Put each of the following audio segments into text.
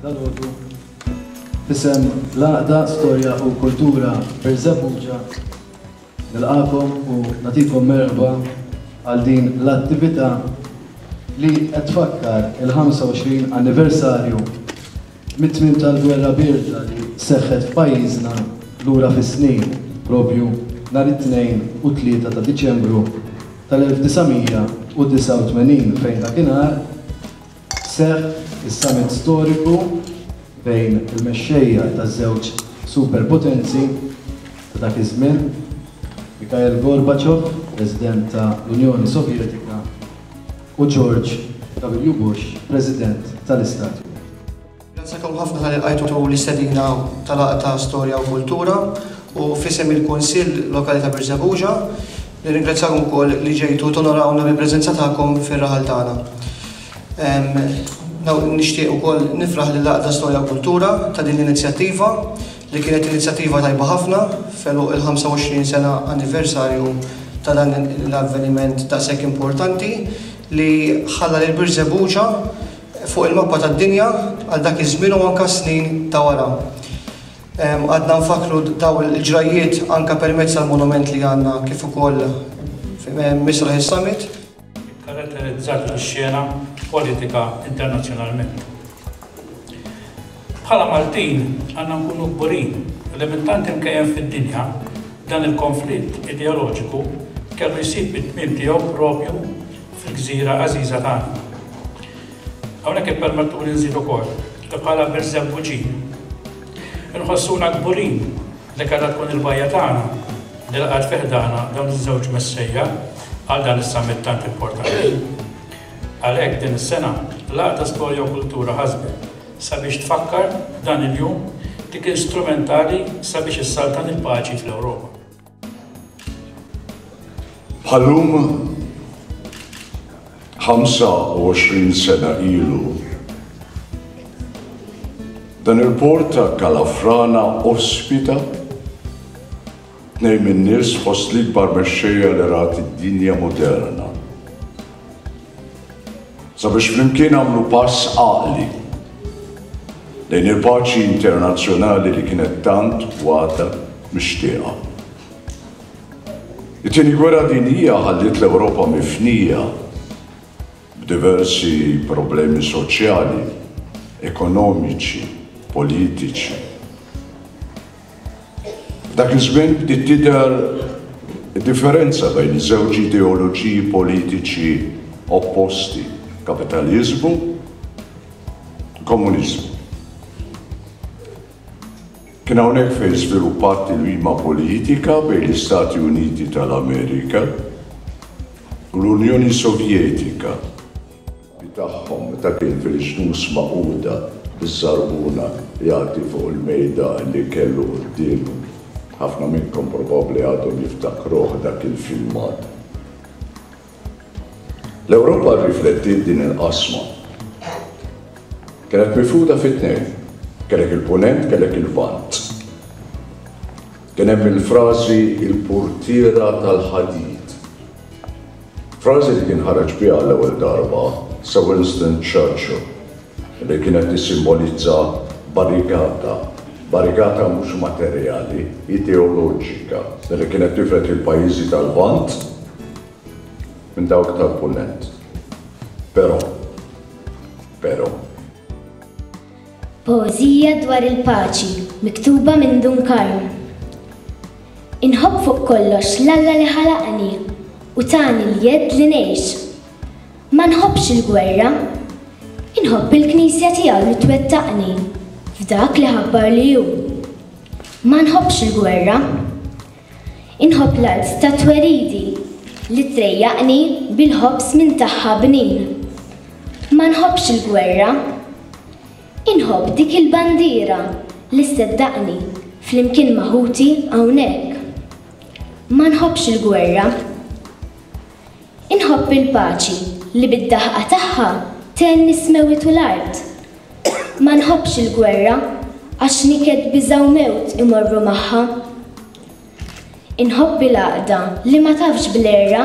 dal-għodu fisem l-għaqda storja u kultura per Zabuġa nil-għakom u natikom merba għal din l-attività li qed tfakkar il-25 anniversarju Mit-tmiem tal-Gwerra Bierda li seħħet f'pajjiżna lura fis-snin, propju nhar it-Tnejn u t-Tlieta ta' Diċembru tal-1989 fejn dakinhar seħħ is-summit storiku bejn il-mexxejja taż-żewġ superpotenzi ta' dak iż-żmien, Mikhail Gorbachev, President ta' l-Unjoni Sovjetika, u George W. Bush, President tal-Istati Uniti. Nirringrazzjakom ħafna tal-li lqajtu l-istedina tal-Laqgħa ta' Storja u Kultura u f'isem il-Kunsill Lokali ta' Birżebbuġa, nirringrazzjakom ukoll li ġejtu tonorawna bil-preżenza tagħkom fir-raħal tagħna. Nixtieq ukoll nifraħ lil Laqgħa ta' Storja u Kultura ta' din l-inizjattiva li kienet inizjattiva tajba ħafna f'għeluq il-25 sena anniversarju ta' dan l-avveniment daqshekk importanti li ħalla lil Birżebbuġa fuq il-mappa tad-dinja għal dak iż-żmien u anke s-snin ta' wara. Għadna nfakkru dawn il-ġrajjiet anke permezz tal-monument li għandna kif ukoll misraħ is-Summit. ikkaratterizzat ix-xena politika internazzjonalment. Bħala Maltin għandna nkunu kburin li minn tant imkejjen fid-dinja dan il-konflitt ideoloġiku kellu jsib it-tmiem tiegħu propju fil-gżira għażiża tagħna. Hawnhekk ippermettuli nżid ukoll li bħala Birżebbuġin inħossuna kburin Dik għandha tkun il-bgħajja tagħna li laqgħet fi ħdana dawn iż-żewġ Messejja għal dan is-summit tant importanti. Għalhekk din is-sena, l-Għaqda Storja u Kultura ħasbet sabiex tfakkar dan il-jum li kien strumentali sabiex issaltan il-paċi fl-Ewropa. Bħal-lum, 25 sena ilu. Dan il-port ta' Kalafrana ospita tnejn min-nies fost l-ikbar mexxejja li rat id-dinja moderna. Sabiex flimkien għamlu pass għaqli lejn il-paċi internazzjonali li kienet tant waħda mixtieqa. It-Tieni Gwerra Dinjija ħalliet l-Ewropa mifnija b'diversi problemi soċjali, ekonomiċi, politiċi. F'dak iż-żmien bdiet tidher id-differenza bejn żewġ ideoloġiji politiċi opposti, kapitaliżmu u komuniżmu. Kien hawnhekk fejn żviluppat tilwima politika bejn l-Istati Uniti tal-Amerika u l-Unjoni Sovjetika, li tagħhom meta kien fil-Ġnus Magħquda biż-żarbuna jagħti fuq il-mejdan li kellu quddiemu. Ħafna minnkom probabbli għadhom jiftakruh dak il-filmat. L-Ewropa rriflettiet din il-qasma. Kienet mifruda fi tnejn, kellek il-Punent, kellek il-Lvant. Kien hemm il-frażi il-purtiera tal-ħadid. Frażi li kien ħareġ biha għall-ewwel darba Sir Winston Churchill li kienet tissimbolizza barrikata, barrikata mhux materjali, ideoloġika, li kienet tifred il-pajjiżi tal-Lvant minn dawk tal-Punent. Però, però. Poeżija dwar il-paċi miktuba minn Dun Karm. Inħobb fuq kollox l-Alla li ħalaqni u tani l-jedd li ngħix. Ma nħobbx il-gwerra. Inħobb il-Knisja tiegħu li twettaqni f'dak li ħabbar li hu. Ma nħobbx il-gwerra. Inħobb l-art ta' tweridi li trejjaqni bil-ħobż minn tagħha bnin. Ma nħobbx il-gwerra. Inħobb dik il-bandiera li sseddaqni flimkien ma' ħuti hawnhekk. Ma nħobbx il-gwerra. Inħobb il-paċi li bid-daħqa tagħha tgħenni s-smewwiet u l-art. Ma nħobbx il-gwerra għax niket biża' u mewt imorru magħha. Inħobb il-għaqda li ma tafx bl-għerra.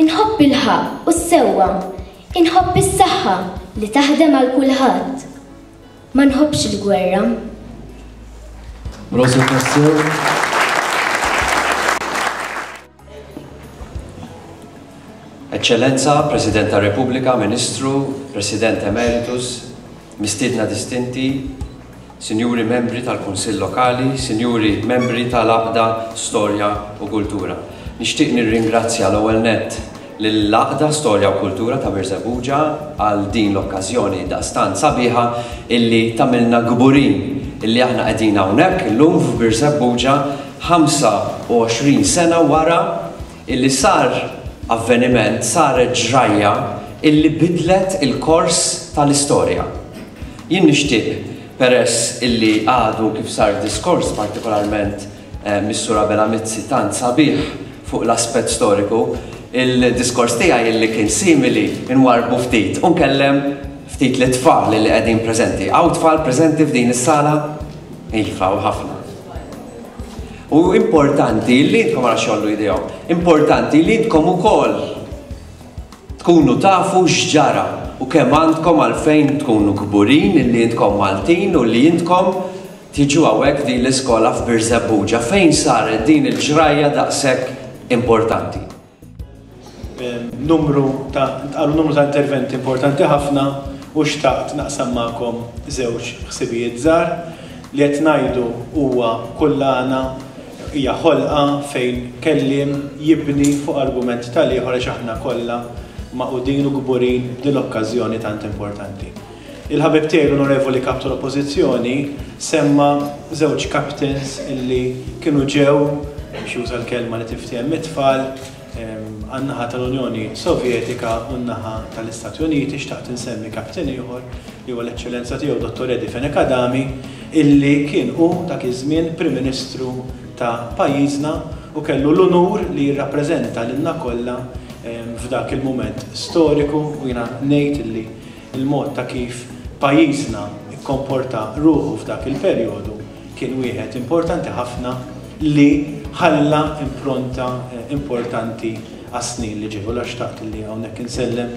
Inħobb il-ħaqq u s-sewwa. Inħobb is-saħħa li taħdem għal kulħadd. Ma nħobbx il-gwerra. Rosa Pastor. Eċċellenza, President tar-Repubblika, Ministru, President Emeritus, Mistiedna Distinti, Sinjuri Membri tal-Kunsill Lokali, Sinjuri Membri tal-Għaqda Storja u Kultura. Nixtieq nirringrazzja l-ewwel nett lill-Għaqda Storja u Kultura ta' Birżebbuġa għal din l-okkażjoni daqstant sabiħa illi tagħmilna kburin illi aħna qegħdin hawnhekk illum f'Birżebbuġa 25 sena wara illi sar avveniment, saret ġrajja illi bidlet il-kors tal-istorja. Jien nixtieq peress illi għadu kif sar diskors partikolarment Mis-Sur Abela Mizzi tant sabiħ fuq l-aspett storiku, il-diskors tiegħi illi kien simili nwarrbu ftit u nkellem ftit lit-tfal illi qegħdin preżenti. Hawn tfal preżenti f'din is-sala? Iva, u ħafna. U importanti li intkom għara xollu idejhom, importanti li intkom ukoll tkunu tafu x'ġara u kemm għandkom għalfejn tkunu kburin li intkom Maltin u li intkom Tiġu hawnhekk f'din l-iskola f'Birżebbuġa fejn saret din il-ġrajja daqshekk importanti. Numru ta' ntqalu numru ta' interventi importanti ħafna u xtaqt naqsam magħkom żewġ ħsibijiet żgħar li qed ngħidu huwa kullana hija ħolqa fejn kelliem jibni fuq argument tal-ieħor għax aħna kollha magħqudin u kburin b'din l-okkażjoni tant importanti. Il-ħabib tiegħi l-Onorevoli Kap tal-Oppożizzjoni semma żewġ captains illi kienu ġew, biex juża l-kelma li tinftiehem mit-tfal, għan-naħa tal-Unjoni Sovjetika u n-naħa tal-Istati Uniti, xtaqt insemmi captain ieħor li huwa l-Eċċellenza tiegħu Dottor Eddie Fenech Adami illi kien hu dak iż-żmien Prim Ministru ta' pajjiżna u kellu l-unur li jirrappreżenta lilna kollha f'dak il-mument storiku u jiena ngħid illi Il-mod ta' kif pajjiżna kkomporta ruħu f'dak il-perjodu kien wieħed importanti ħafna li ħalla impronta importanti għas-snin li ġew. Allura xtaqt li hawnhekk insellem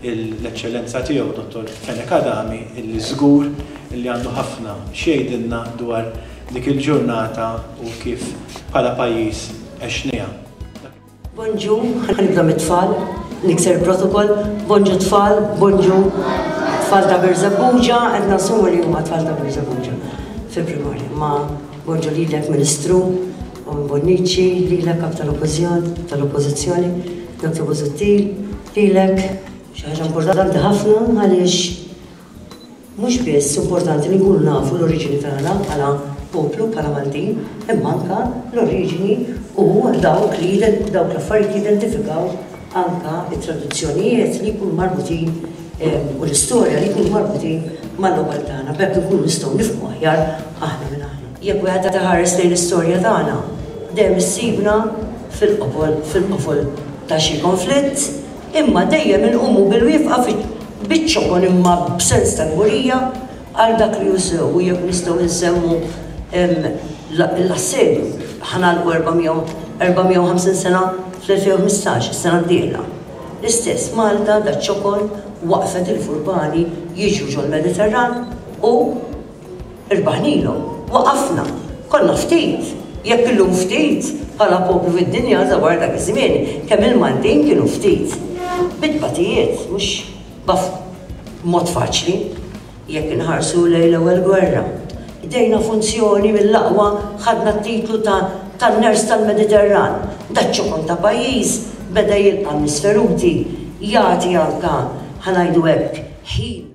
l-Eċċellenza Tiegħu Dottor Fenech Adami li żgur li għandu ħafna x'jgħidilna dwar dik il-ġurnata u kif bħala pajjiż għexniha. Bonġu, ħa nibda mit-tfal, nikser protokoll, bonġu tfal, bonġu tfal ta' Birżebbuġa, qed nassumu li huma tfal ta' Birżebbuġa fil-primarja. Ma bonġu lilek Ministru, u Bonnici, lilek kap tal-Oppożizzjoni, Dr. Busuttil, lilek xi ħaġa importanti ħafna għaliex Mhux biss importanti li nkunu nafu l-oriġini tagħna bħala poplu, bħala Maltin, imma anke l-oriġini u dawk li dawk l-affarijiet li jidentifikaw anke t-tradizzjonijiet li jkunu marbutin u l-istorja li jkunu marbutin mal-logħob tagħna. B'hekk inkunu nistgħu nifhmu aħjar aħna min aħna. Jekk wieħed qed iħares lejn l-istorja tagħna, dejjem issibna fil-qofol fil-qofol ta' xi konflitt, imma dejjem inqumu bil-wieqfa fiċ-ċokon imma b'sens ta' kburija għal dak li hu sew u jekk nistgħu insemmu l-Assedju, ħa nagħlqu 450 sena fl-2015, is-sena d-dieħla. L-istess, Malta daċ-ċokon waqfet il-furbani jiġru ġol-Mediterran u, Irbaħnilhom, waqafna, konna ftit, jekk illum ftit bħala poplu fid-dinja ta' wara dak iż-żmien kemm il-Maltin kienu ftit. Bi tbatijiet, mhux b'mod faċli. Jekk inħarsu lejn l-Ewwel Gwerra, qdejna funzjoni mill-aqwa, ħadna t-titlu ta' tan-ners tal-Mediterran. Dak ċokon ta' pajjiż beda jilqa' nies feruti, jagħti anke, ħa ngħidu hekk, ħin.